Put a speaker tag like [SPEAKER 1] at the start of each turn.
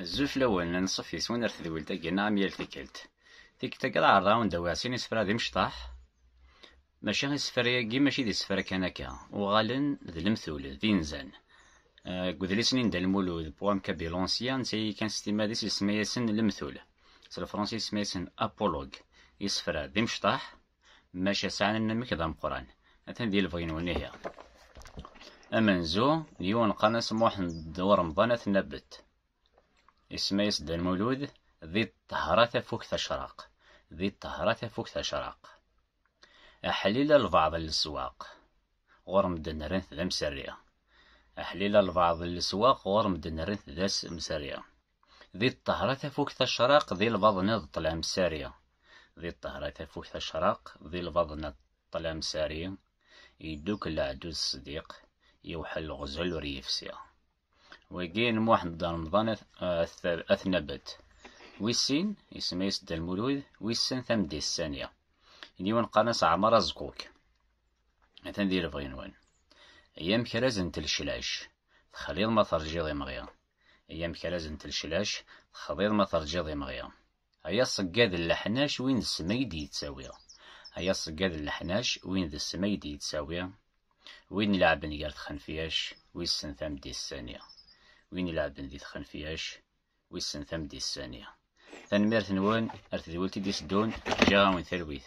[SPEAKER 1] Azul fell-awen, ad nṣef yes-wen ar tedwilt-agi neɣ am yal tikkelt. Tikkelt-agi ad ɛerḍeɣ awen-d awiɣ sin isefra d imecṭaḥ, maca isefra-agi mačči d isefra kan akka, uɣalen d lemtul, d inzan. Deg udlis-nni n Dda Lmulud, Poème Kaby l'Ancien, netta-agi kan s timmad-is isemma-yasen lemtul, s lefransi isemma-yasen apologue, isefra d imecṭaḥ, Maca sɛan anamek d ameqqran. Atan di lebɣi-nwen ihi. Amenzu n yiwen qqaren-as Muḥend u Remḍan At Nabet. Isemma-yas Dda Lmulud di ṭṭehra tafukt acraq. Di ṭṭehra tafukt acraq. Aḥlil albaɛḍ n leswaq. Ɣur medden rran-t d amserri. Aḥlil albaɛḍ n leswaq ɣur medden rran-t d amserri. Di ṭṭehra tafukt acraq, di lbaḍna d ṭṭlam sari. Di ṭṭehra tafukt acraq, di lbaḍna d ṭṭlam sari. Yeddukel leɛdud ṣdiq, yewḥel leɣzel ur yefsi. Wagi n Muḥend Remḍan At Nabet. Wis sin, isem-is Dda Lmulud, wissen tamdist sani. N yiwen qqaren-as Ɛmar Azguk. Atan di lebɣi-nwen. Ay amekraz n telcelac, texliḍ ma terjiḍ imɣi. Ay amekraz n telclac, texḍiḍ ma terǧiḍ imɣi. Ay aṣeggad n leḥnac, win d ssem ay d-yettawi. Ay aṣeggad n leḥnac, win d ssem ay d-yettawi. Win ilɛebben gar txenfyac, wissen tameddit sani. Win ilɛebben di txenfyac, wissen tameddit sani. Tanemmirt-nwen ar tedwilt i d-iteddun, ǧǧiɣ-awen talwit.